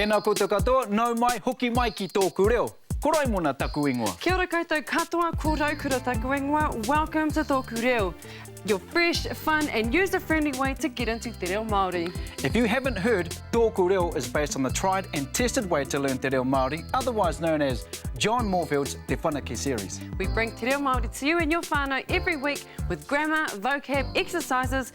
Tēnā koutou katoa, nau mai, hoki mai ki tōku reo. Ko Raimona taku ingoa. Kia ora koutou katoa, ko Raukura taku ingoa, welcome to Tōku Reo, your fresh, fun and user friendly way to get into te reo Māori. If you haven't heard, Tōku Reo is based on the tried and tested way to learn te reo Māori, otherwise known as John Moorfield's Te Whanake Series. We bring te reo Māori to you and your whānau every week with grammar, vocab, exercises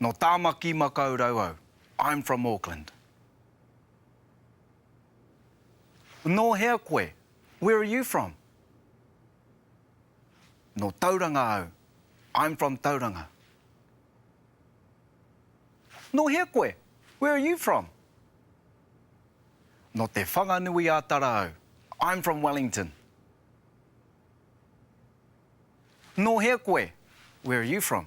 Nō Tāmaki Makaurau au, I'm from Auckland. Nō hea koe, where are you from? Nō Tauranga au, I'm from Tauranga. Nō hea koe, where are you from? Nō Te Whanganui-a-Tara au, I'm from Wellington. Nō hea koe, where are you from?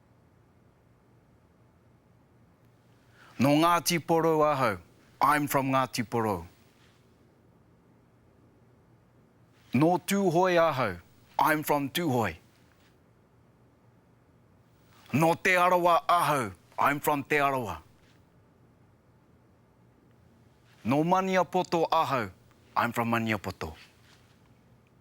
Nō Ngāti Porou ahau, I'm from Ngāti Porou. Nō Tūhoe ahau, I'm from Tūhoe. Nō Te Arawa ahau, I'm from Te Arawa. Nō Maniapoto ahau, I'm from Maniapoto.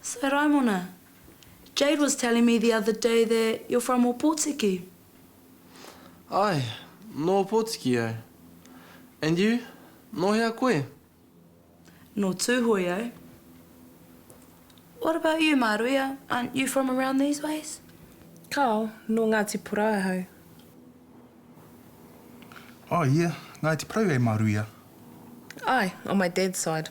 So Raimona, Jade was telling me the other day that you're from Opotiki? Ae, nō Opotiki au. And you, nō hea koe? Nō Tūhoe au. What about you, Māruia, aren't you from around these ways? Kao, nō Ngāti Porou ahau. Oh yeah, Ngāti Porou eh, Māruia? Ae, on my dad's side.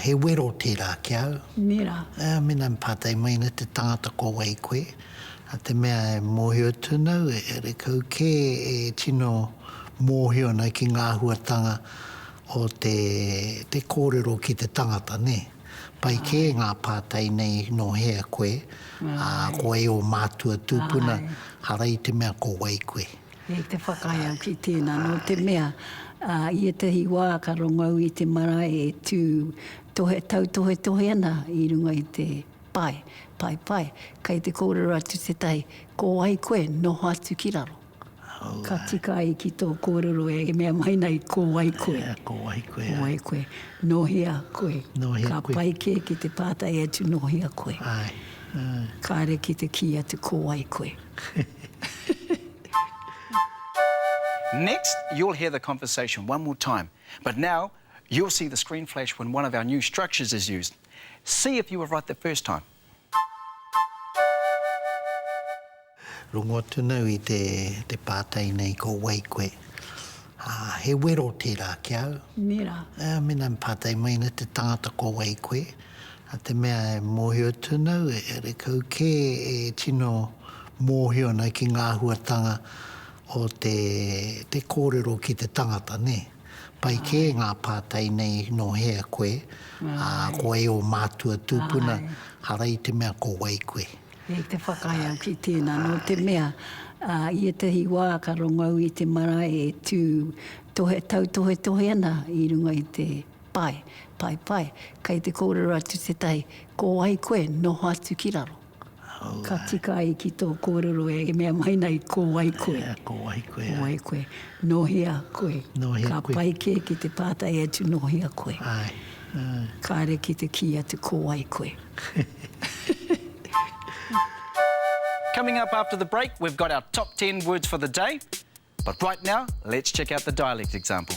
He wero tērā ki au. Mera. Mena me pātai mai nei te tangata ko wai koe, a te mea e mōhio atu ana au e re kau kē e tino mōhio ana ki ngā huatanga o te te kōrero ki te tangata nē. Pai kē ngā pātai nei nō hea koe, ā, ko wai ō mātua tūpuna, ara i te mea ko wai koe. Kei te whakaae au ki tēnā, nō te mea, i ētahi wā ka rongou i te marae e tū tohe, tautohetohe ana i runga i te pae, paepae, kei te kōrero atu tētahi, ko wai koe, noho atu ki raro. Ka tika ai ki tō kōrero e mea mai nei, ko wai koe. Ko wai koe. Ko wai koe. Nō hea koe. Nō hea koe. Ka pai kē ki te pātai atu, nō hea koe. Āe. Kāre ki te kī atu, ko wai koe. Next you'll hear the conversation one more time but now you'll see the screen flash when one of our new structures is used. See if you were right the first time. Rongo atu nau i te pātai nei ko wai koe? He wero tērā ki au. Mēnā. Mēnā me pātai mai nei te tangata ko wai koe? A te mea e mohio tuna au, e karekau ke e tino mohio ana ki nga ahuatanga o te te korero ki te tangata, ne. Pai ke nga patai nei no hea koe, a ko wai o matua tupuna, ara i te mea ko wai koe. Kei te whakaae au ki tena, no te mea, i etahi wa ka rongo au i te marae e tu tohe tautohetohe ana i runga i te Pai, pai, pai. Kei te kōrero atu tētahi, ko wai koe, noho atu ki raro. Ka tika ai ki tō kōrero e mea mai nei, ko wai koe. Ea, ko wai koe. Ko wai koe. Nō hea koe. Nō hea koe. Ka pai kē ki te pātai atu, nō hea koe. Āe, āe. Kāre ki te kī atu, ko wai koe. Coming up after the break, we've got our top ten words for the day, but right now, let's check out the dialect example.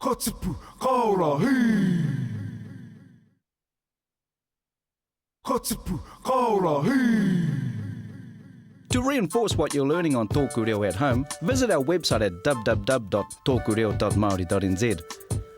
Ka tipu, ka ora, hī! Ka tipu, ka ora, hī! To reinforce what you're learning on Tōku Reo at Home, visit our website at www.tokureo.maori.nz.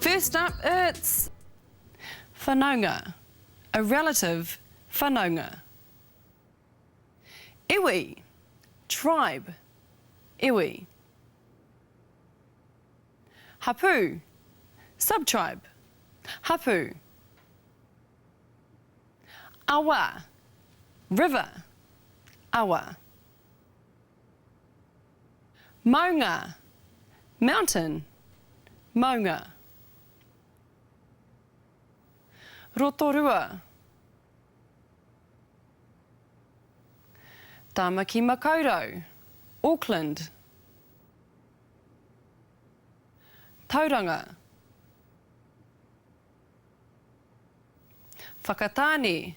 First up it's Whanaunga, a relative Whanaunga Iwi, tribe Iwi Hapū, subtribe Hapū Awa, river Awa. Maunga, mountain, maunga. Rotorua, Tāmaki Makaurau, Auckland. Tauranga, Whakatāne.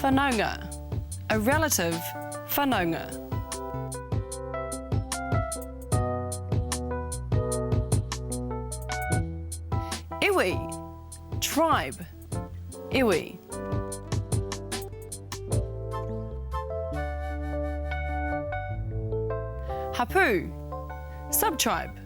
Whanaunga A relative Whanaunga. Iwi Tribe Iwi. Hapū Subtribe.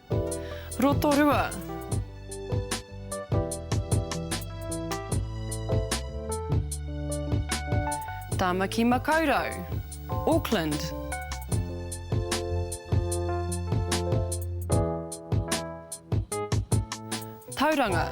Rotorua. Tāmaki Makaurau, Auckland. Tauranga.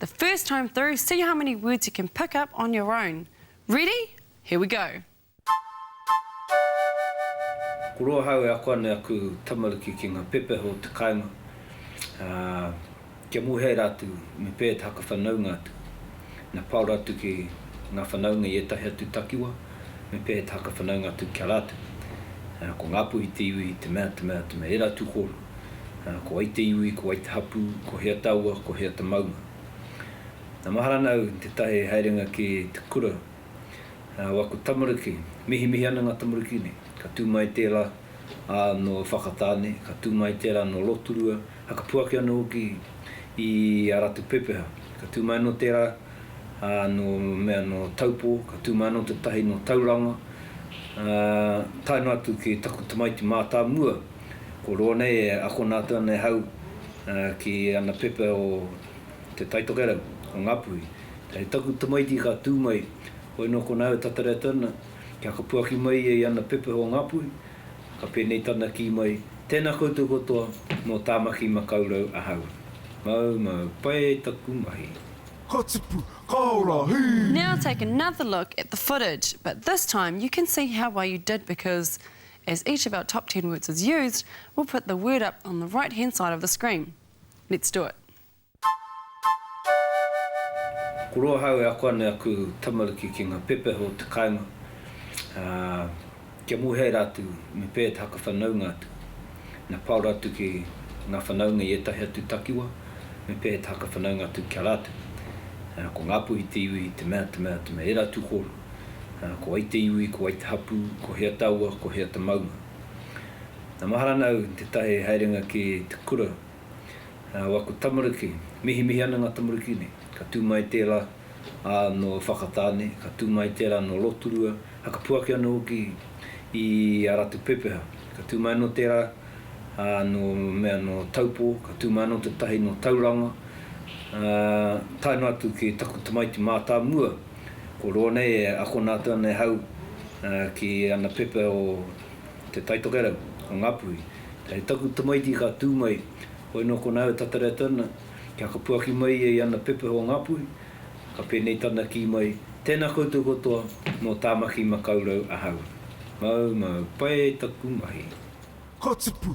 The first time through, see how many words you can pick up on your own. Ready? Here we go! Ko roa hau e ako ana e aku tamariki ki nga pepeha o te kainga, a, kia muhea ra atu, me pea e te haka whanaunga atu. Na paora atu ki nga whanaunga i etahi atu takiwa, me pea e te haka whanaunga atu ki a ratu. Ko nga puhi te iwi, te mea, te mea, te mea, era atu koru. Nana, ko wai te iwi, ko wai te hapū, ko hea taua, ko hea te maunga. Na, mahara ana au te tae he haerenga ki te kura o aku tamariki. Mihimihi ana nga tamariki nei. Ka tu mai tera a no Whakatane, ka tu mai tera no Roturua, a ka puaki ana hoki i a ratu pepeha. Ka tu mai ano tera a no mea no Taupo, ka tu mai ano te tahi no Tauranga, a, tae no atu ki taku tamaiti matamua. Ko roa nei e akona atu ana e Hau ki ana pepa o Te Taitokerau, o Ngapuhi. Hei taku tamaiti ka tū mai, hoi nō kona au e tatari atu ana, kia ka puaki mai ia i ana pepa o Ngapuhi, ka pēnei tana kī mai, Tēnā koutou katoa, nō Tāmaki Makaurau ahau. Mau mau, pai taku mahi. Ka tipu, ka ora, hī! Now take another look at the footage, but this time you can see how well you did because As each of our top ten words is used, we'll put the word up on the right hand side of the screen. Let's do it. Ko roa hau e ako ana e aku tamariki ki nga pepeha o te kainga, a, kia muhea ratu me pea te hakawhanaunga atu. Na pao ratu ki nga whanaunga i etahi atu takiwa, me pea te hakawhanaunga atu ki a ratu. Ko Ngapuhi te iwi, te mea, te mea, te mea, e ratu koro. Nana, ko wai te iwi, ko wai te hapū, ko hea taua, ko hea te maunga. Na mahara ana au te tae he haerenga ki te kura a waku tamariki. Mihimihi ana nga tamariki nei. Ka tu mai tera a no Whakatane, ka tu mai tera no Roturua, a ka puaki ana hoki i a ratu pepeha. Ka tu mai ano tera a no mea no Taupo, ka tu mai ano te tahi no Tauranga, a tae no atu ki taku tamaiti matamua. Ko roa nei e akona atu ana e Hau ki ana pepa o Te Taitokerau, o Ngapuhi. Kei taku tamaiti ka tū mai, hoi nō kona au e tatari atu ana, kia ka puaki mai ia i ana pepa o Ngapuhi, ka pēnei tana kī mai, Tēnā koutou katoa, nō Tāmaki Makaurau ahau. Mau, mau, pai taku mahi. Ka tipu,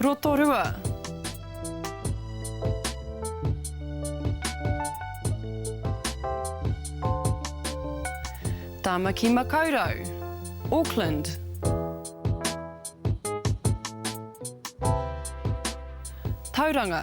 Rotorua. Tāmaki Makaurau. Auckland. Tauranga.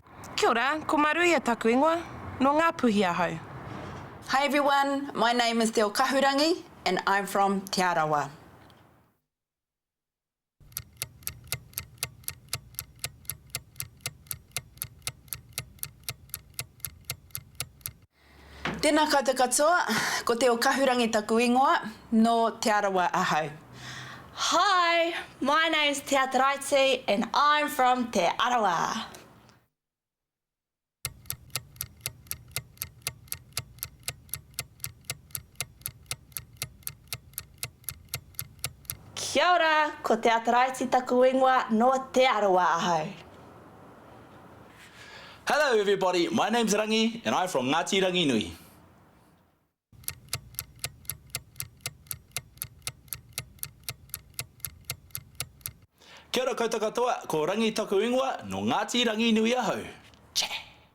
Kia ora, ko Maruia taku ingoa, no Ngapuhi ahau. Hi everyone, my name is Teo Kahurangi and I'm from Te Arawa. Tēnā koutou katoa, ko Teo Kahurangi taku ingoa, nō Te Arawa ahau. Hi, my name's Tea Taraiti and I'm from Te Arawa. Kia ora, ko Te Ataraiti taku ingoa, no Te Arawa ahau. Hello everybody, my name's Rangi and I'm from Ngati Ranginui. Kia ora koutou katoa, ko Rangi taku ingoa, no Ngati Ranginui ahau. Che!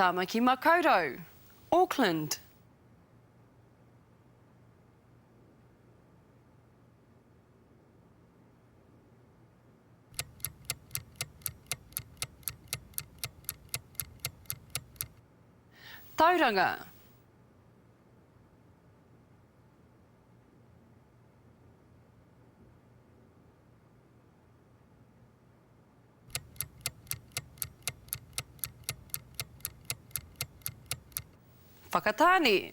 Tāmaki Makaurau, Auckland. Tauranga. Whakatāne.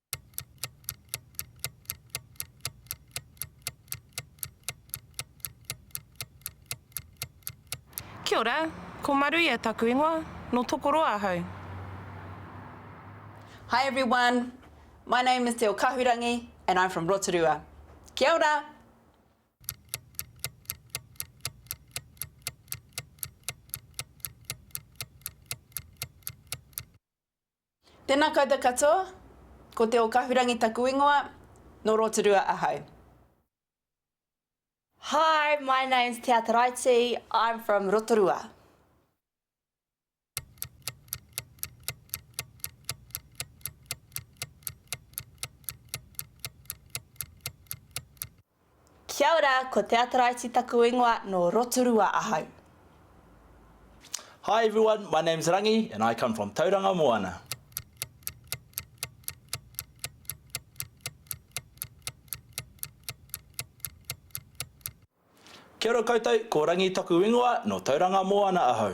Kia ora, ko Maruia taku ingoa, no Tokoroa ahau. Hi everyone, my name is Te Okahurangi and I'm from Rotorua. Kia ora! Tena koutou katoa, ko Te Okahurangi taku ingoa, no Rotorua ahau. Hi, my name's Te Ataraiti, I'm from Rotorua. Kia ora, ko Te Ataraiti taku ingoa, no Rotorua ahau. Hi everyone, my name's Rangi and I come from Tauranga Moana. Kia ora koutou, ko Rangi taku ingoa, no Tauranga Moana ahau.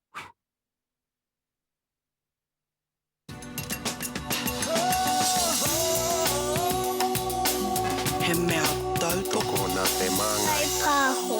He mea tautoko nā te māngai. Kai Pāho.